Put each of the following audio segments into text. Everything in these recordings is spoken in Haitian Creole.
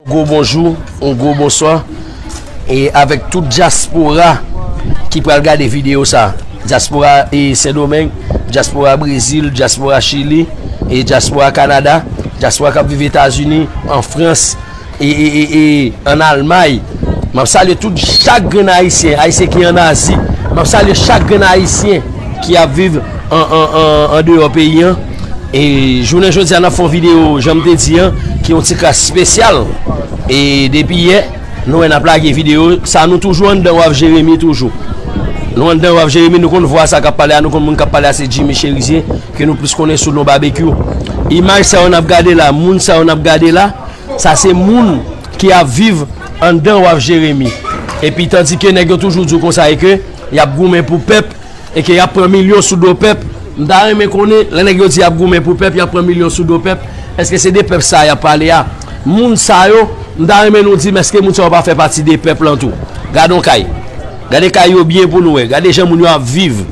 Yon gwo bonjou, yon gwo bonswa e avèk tout dyaspora ki pral gade videyo sa. Dyaspora e Sendomeng, dyaspora Brezil, dyaspora Chili, e dyaspora Kanada, dyaspora kap viv Etazini, an Frans, e, e, e, e, an Almay. Map salye tout chak grenn Ayisyen, Ayisyen ki an Azi. Map salye chak grenn Ayisyen ki ap viv an, an, an, an deyò peyi an. E jounen jodi a nap fon video janm te di an ki yon ti kras spesyal E depi yè nou wè nap lage video sa nou toujou anndan wav jeremi toujou Nou anndan wav jeremi nou konn vwa sa kap pale a nou konn moun kap pale a se jimmy cherizier ke nou plis konnen sou non babekyou Imaj sa yo nap gade la moun sa yo nap gade la sa se moun ki ap viv anndan wav jeremi Epi tandike nèg yo toujou di w konsa e ke yap goumen pou pèp Eke yap pran milyon sou do pèp m ta renmen konnen lè nèg yo di yap goumen pou pèp yap pran milyon sou do pèp eske se de pèp sa yap pale a moun sa yo m ta renmen nou dim eske moun sa yo pa fè pati de pèp lan tou gadon kay gade kay yo byen pou nou wè gade jan moun yo ap viv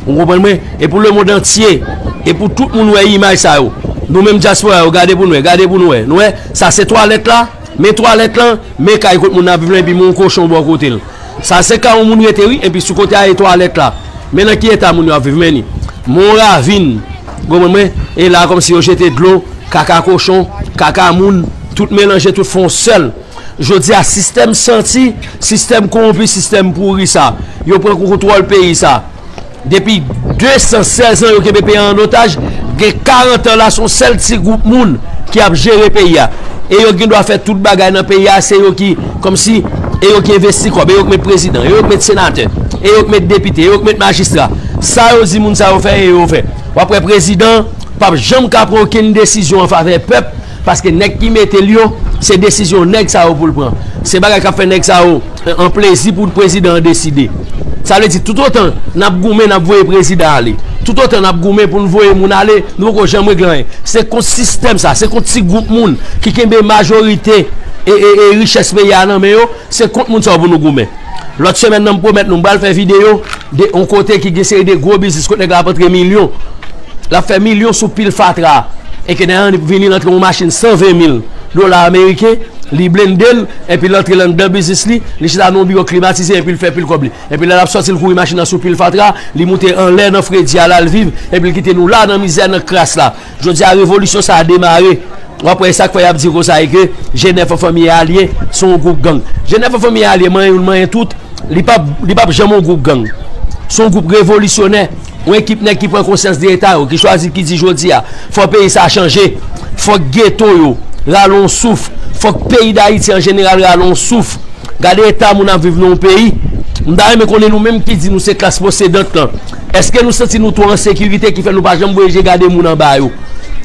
ou konprann mwen e pou lemond antye e pou tout moun wè imaj sa yo nou menm dyaspora yo gade pou nou wè gade pou nou wè nou wè sa se twalèt la men twalèt lan men kay kote moun ap viv lan epi men yon kochon bò kote l. Sa se ka yon moun rete wi epi sou kote a e twalet la men nan ki eta moun yo ap viv men ni mon ravin konprann mwen e la komsi yo jete dlo kaka kochon kaka moun tout melanje tout fon sel jodi a sistèm santi sistèm konronpi sistèm pouri sa yo pran kou kontwòl peyi sa. Depi 216 an yo kenbe peyi an otaj, gen 40 an la son sèl ti gwoup moun ki ap jere peyi a. E yo gen dwa fè tout bagay nan peyi a, se yo ki kòm si, e yo ki envesti kòb, e yo ki met prezidan, e yo ki met senatè, e yo ki met depite, e yo ki met majistra. Sa yo di moun sa yo fè e yo fè. Wap wè prezidan pap janm ka pran okenn desizyon an favè pèp. Paske nèg ki mete l yo, se desizyon nèg sa yo pou l pran. Se bagay k ap fè nèg sa yo an plezi pou prezidan an deside. Sa vle di toutotan n ap goumen n ap voye prezidan ale, toutotan n ap goumen pou n voye moun ale, nou poko janm regle anyen. Se kont sistèm sa, se kont ti gwoup moun ki kenbe majorite richès peyi a nan men yo. Se kont moun sa yo pou nou goumen. Lòt semèn nan m pwomèt nou m pral fè videyo de yon kote ki gen seri de gwo biznis kot nèg la ap antre milyon. L ap fè milyon sou pil fatra a. E ke nèg la vin li rantre yon machin 120 mil dola ameriken, li blende l, epi l antre l anndan biznis li, li chita nan yon biwo klimatize epi l fè pil kòb li. Epi lè l ap sòti l kouri machin nan sou pil fatra, li moute anlè nan fredi a l al viv epi l kite nou la nan mizè nan kras la. Jodi a revolisyon sa a demare. W ap wè e sa k fè y ap di konsa e ke G9 an fanmi e alye se yon gwoup gang. G9 an fanmi e alye manyen youn manyen tout, li p ap li p ap janm yon gwoup gang. Se yon gwoup revolisyonè, yon ekip nèg ki pran konsyans de eta yo, ki chwazi ki di jodi a fò peyi sa a chanje, fòk geto yo rale yon souf, fòk peyi Dayiti an jeneral rale yon souf. Gade eta moun ap viv nan yon peyi. M ta renmen konnen nou menm ki di nou se klas posedant lan. Èske nou santi nou twò an sekirite ki fè nou pa janm voye je gade moun anba yo?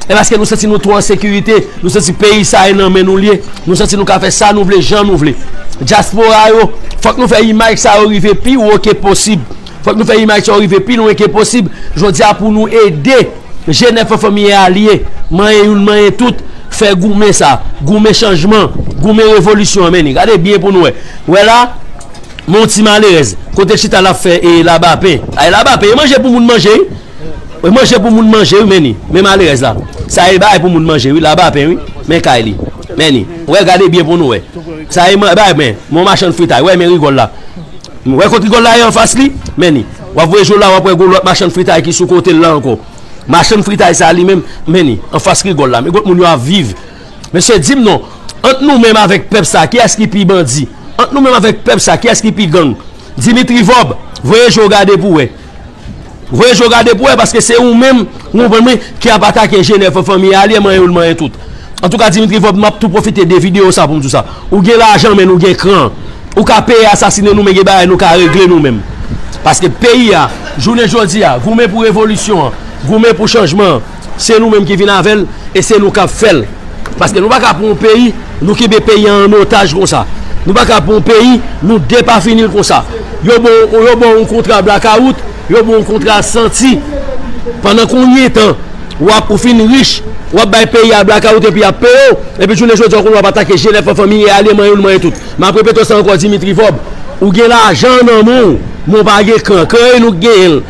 Epi èske nou santi nou twò an sekirite, nou santi peyi sa e nan men nou li ye, nou santi nou ka fè sa nou vle, jan nou vle? Dyaspora yo, fòk nou fè imaj sa yo rive pi wo ke posib. Fòk nou fè imaj sa yo rive pi lwen ke posib jodi a pou nou ede jenèf an fanmi e alye, manyen youn manyen tout, fè goumen sa, goumen chanjman, goumen revolisyon an menni. Gade byen pou nou wè. Wè la? Men yon ti malerèz. Kote l chita lap fè e laba pen. Ay laba pen e manje pou moun manje wi e manje pou moun manje wi men ni men malerèz la sa e bay pou moun manje wi laba pen wi men kay li men ni wè gade byen pou nou wè sa e bay men yon machann fritay wè men rigòl la wè kot rigòl la ye anfas li men ni wap voye jou la wap wè gon lòt machann fritay ki sou kote l la ankò machann fritay sa li menm men ni anfas rigòl la men kot moun yo ap viv. Mesye dim non, ant nou menm avèk pèp sa kiyès ki pi bandi? Ant nou menm avèk pèp sa kiyès ki pi gang? Dimitri Vorb, voye je w gade pou wè. Voye je w gade pou wè paske se ou menm, ou konprann mwen, ki ap atake Jenè fè fanmi a lye manyen youn manyen tout. Antouka Dimitri Vorb m ap tou pwofite de videyo sa pou m di w sa. Ou gen lajan men nou gen kran. Ou ka peye asasine nou men gen bagay nou ka regle nou menm. Paske peyi a, jounen jodi a, goumen pou revolisyon an, goumen pou chanjman an. Se nou menm ki vin avè l e se nou k ap fè l. Paske nou pa ka pran yon peyi, nou kenbe peyi an an otaj konsa. Nou pa ka pran yon peyi, nou depafini l konsa. Yo ba w yo ba w yon kontra blakawout, yo ba w yon kontra santi. Pandan konbyen tan w ap ou fin rich, w ap bay peyi a blakawout epi y ap peye w? Epi jounen jodi a ou konn w ap atake jenèf an fanmi e ale manyen l manyen tout. M ap repete w sa ankò Dimitri Vorbe, ou gen lajan nan men w men w pa gen kran. Kran e nou k genyen l.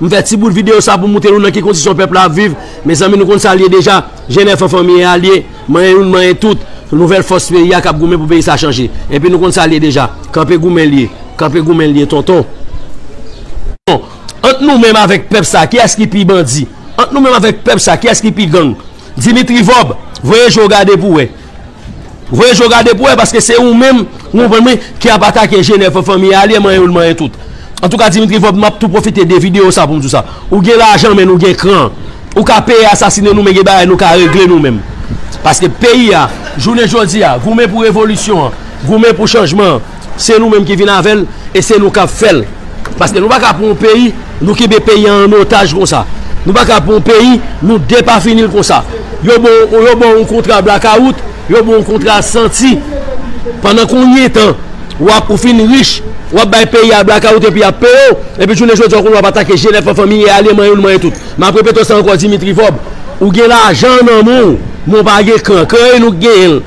M fè ti bout video sa pou moutre nou nan ki kondisyon pèp la ap viv. Mezanmi nou konn sa l ye deja. Jenn èfò fanmi e alye, manyen youn manyen tout. Nouvèl fòs peyi a k ap goumen pou peyi sa chanje. Enpi nou konn sa l ye deja. Kanpe goumen l ye. Kanpe goumen l ye tonton. Bon, ant nou menm avèk pèp sa, kiyès ki pi bandi? Ant nou menm avèk pèp sa, kiyès ki pi gang? Dimitri Vorb voye je w gade pou wè Voye je w gade pou wè paske se ou menm ou konprann mwen ki ap atake Jenè fè fanmi a ale manyen yo l manyen tout Antouka Dimitri Vorb m ap tou pwofite de videyo sa pou m di w sa Ou gen lajan men nou gen kran Ou ka peye asasine nou men gen bagay nou ka regle nou menm Paske peyi a jounen jodi a goumen pou revolisyon an goumen pou chanjman an. Se nou menm ki vin avè l e se nou k ap fè l. Paske nou pa ka pran yon peyi, nou kenbe peyi an an otaj konsa. Nou pa ka pran yon peyi, nou depafini l konsa. Yo ba w yo ba w yon kontra blakawout, yo ba w yon kontra santi. Pandan konbyen tan w ap ou fin rich, w ap bay peyi a blakawout epi y ap peye w. Epi jounen jodi a w konn w ap atake jenèf an fanmi, e ale manyen w manyen tout. M ap repete w sa ankò Dimitri Vob, ou gen lajan nan men w, men w pa gen kran. Kran e nou k genyen l.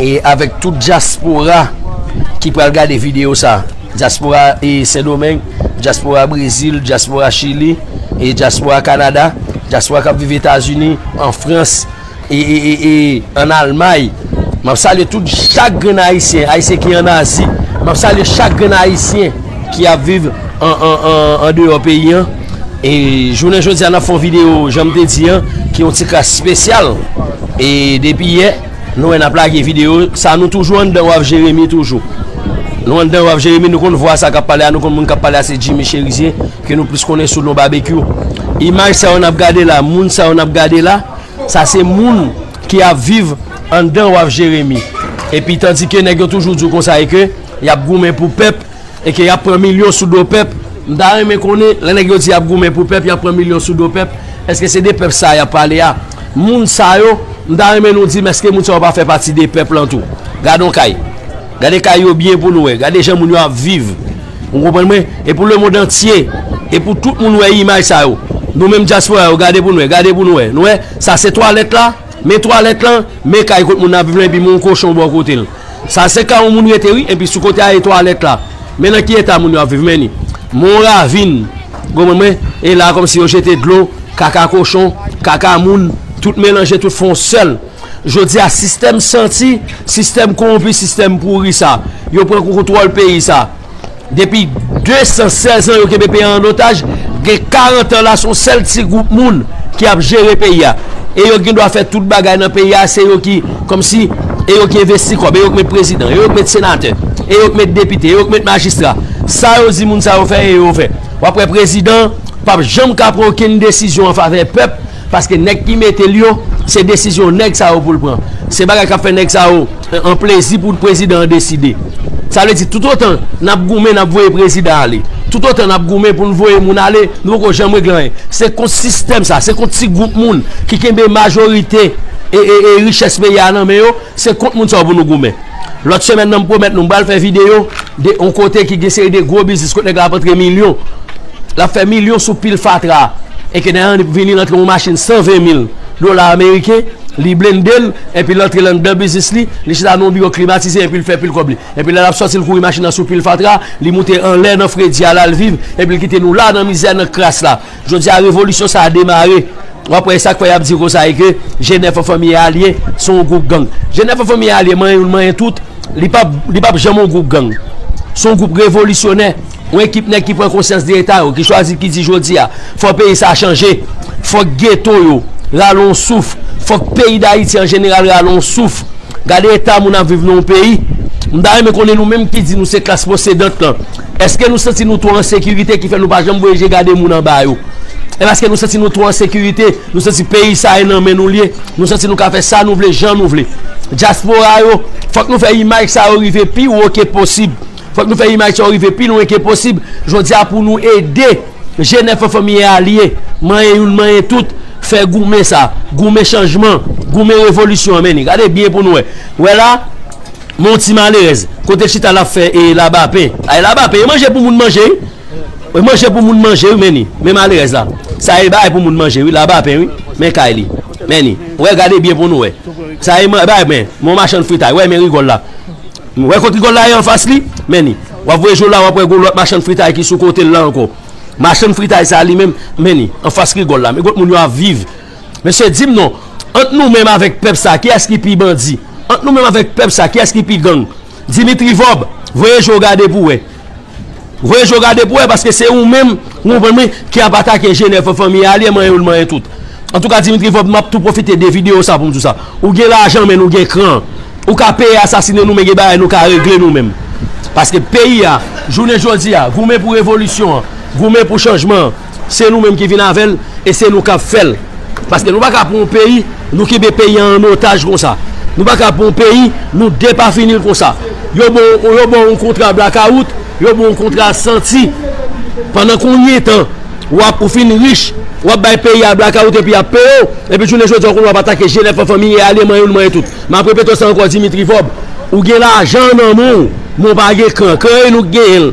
E avèk tout dyaspora ki pral gade videyo sa, dyaspora e Sendomeng, dyaspora Brezil, dyaspora Chili, e dyaspora Kanada, dyaspora kap viv Etazini, an Frans, e e e e an Almay, map salye tout chak grenn ayisyen, ayisyen ki an Azi, map salye chak grenn ayisyen ki ap viv an an an andeyò peyi an. E jounen jodi a nap fon video janm te di an ki yon ti kras spesyal E depi yè nou wè nap lage video sa nou toujou anndan wav jeremi toujou Nou anndan wav jeremi nou konn vwa sa kap pale a nou konn moun kap pale a se jimi cherizier ke nou plis konnen sou non babekyou Imaj sa yo nap gade la moun sa yo nap gade la sa se moun ki ap viv anndan wav jeremi Epi tandike nèg yo toujou di w konsa e ke yap goumen pou pèp. E ke yap pran milyon sou do pèp, m ta renmen konnen, lè nèg yo di yap goumen pou pèp, yap pran milyon sou do pèp, eske se de pèp sa yap pale a? Moun sa yo, m ta renmen nou di m eske moun sa yo pa fè pati de pèp lan tou? Gade yon kay. Gade kay yo byen pou nou wè. Gade jan moun yo ap viv. Ou konprann mwen? E pou lemond antye, e pou tout moun wè imaj sa yo. Nou menm dyaspora yo, gade pou nou wè. Gade pou nou wè. Nou wè? Sa se twalèt la? Men twalèt lan, men kay kot moun nan ap viv lan epi men yon kochon bò kote l. Sa se kay yon moun rete wi epi sou kote a e twalèt la. Men nan ki eta moun yo ap viv men ni. Men yon ravin. Gonmen mwen, e la kòm si yo jete dlo, kaka kochon, kaka moun, tout melanje tout fè yon sèl. Jodi a sistèm santi, sistèm kowonpi, sistèm pouri sa. Yo pran kontwòl peyi sa. Depi 216 an yo kenbe peyi an otaj, gen 40 an la son sèl ti gwoup moun ki ap jere peyi a. E yo gen dwa fè tout bagay nan peyi a, se yo ki kòm si, e yo ki envesti kòb, e yo ki met prezidan, e yo ki met senatè, e yo ki met depite, e yo ki met majistra. Sa yo di moun sa yo fè e yo fè. Wap wè prezidan pap janm ka pran okenn desizyon an favè pèp. Paske nèg ki mete l yo, se desizyon nèg sa yo pou l pran. Se bagay k ap fè nèg sa yo an plezi pou prezidan an deside. Sa vle di toutotan n ap goumen n ap voye prezidan ale, toutotan n ap goumen pou n voye moun ale, nou poko janm regle anyen. Se kont sistèm sa, se kont ti gwoup moun ki kenbe majorite richès peyi a nan men yo. Se kont moun sa yo pou nou goumen. Lòt semèn nan m pwomèt nou m pral fè videyo de yon kote ki gen seri de gwo biznis kote nèg la ap antre milyon. L ap fè milyon sou pil fatra a. E ke nèg la vin li rantre yon machin 120 mil dola ameriken, li blende l, enpi l antre l anndan biznis li, li chita nan yon biwo klimatize enpi l fè pil kòb li. Enpi lè l ap sòti l kouri machin nan sou pil fatra, li moute anlè nan fredi a l al viv enpi l kite nou la nan mizè nan kras la. Jodi a revolisyon sa a demare. W ap wè e sa k fè y ap di konsa e ke G9 an fanmi e alye se yon gwoup gang. G9 an fanmi e alye manyen youn manyen tout, li p ap li p ap janm yon gwoup gang. Se yon gwoup revolisyonè, yon ekip nèg ki pran konsyans de eta yo, ki chwazi ki di jodi a fò peyi sa a chanje, fòk geto yo rale yon souf, fòk peyi Dayiti an jeneral rale yon souf. Gade eta moun ap viv nan yon peyi. M ta renmen konnen nou menm ki di nou se klas posedant lan. Èske nou santi nou twò an sekirite ki fè nou pa janm voye je gade moun anba yo? Epi èske nou santi nou twò an sekirite, nou santi peyi sa e nan men nou li ye, nou santi nou ka fè sa nou vle, jan nou vle? Dyaspora yo, fòk nou fè imaj sa yo rive pi wo ke posib. Fòk nou fè imaj sa yo rive pi lwen ke posib jodi a pou nou ede jenè fanfan miye aliye, manyen youn manyen tout, fè goumen sa, goumen chanjman, goumen revolisyon an. Men ni, gade byen pou nou wè. Wè la? Men yon ti malerèz. Kote l chita lap fè e laba pen. Ay laba pen e manje pou moun manje wi. E manje pou moun manje wi men ni. Men malerèz la. Sa e bagay pou moun manje wi. Laba pen wi. Men kay li. Men ni. Wè gade byen pou nou wè. Sa e bagay men. Men yon machann fritay. Wè men rigòl la. Wè kot rigòl la ye anfas li. Men ni. Wap voye je w la wap wè gon lòt machann fritay ki sou kote l la ankò. Machann fritay sa li menm. Men ni. Anfas rigòl la. Men kot moun yo ap viv. Mesye dim non Ant nou menm avèk pèp sa kiyès ki pi bandi Ant nou menm avèk pèp sa kiyès ki pi gang Dimitri Vorb voye je w gade pou wè Voye je w gade pou wè paske se ou menm ou konprann m ki ap atake Jenè fè fanmi a li manyen ou l manyen tout Antouka Dimitri Vorb m ap tou pwofite de videyo sa pou m di w sa Ou gen lajan men nou gen kran Ou ka peye asasine nou men gen bagay nou ka regle nou menm Paske peyi a jounen jodi a goumen pou revolisyon an goumen pou chanjman an. Se nou menm ki vin avè l e se nou k ap fè l. Paske nou pa ka pran yon peyi, nou kenbe peyi an an otaj konsa. Nou pa ka pran yon peyi, nou depafini l konsa. Yo ba w yo ba w yon kontra blakawout, yo ba w yon kontra santi. Pandan konbyen tan w ap ou fin rich, w ap bay peyi a blakawout epi y ap peye w. Epi jounen jodi a ou konn w ap atake jenèf an fanmi e ale manyen l manyen tout. M ap repete w sa ankò Dimitri Vob, ou gen lajan nan men w men w pa gen kran. Kran e nou k genyen l.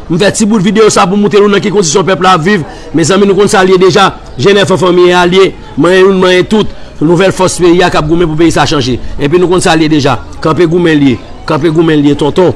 M fè ti bout video sa pou moutre nou nan ki kondisyon pèp la ap viv. Mezanmi nou konn sa l ye deja. Jèn èfò fanmi e alye, manyen youn manyen tout. Nouvèl fòs peyi a k ap goumen pou peyi sa chanje. Enpi nou konn sa l ye deja. Kanpe goumen l ye. Kanpe goumen l ye tonton.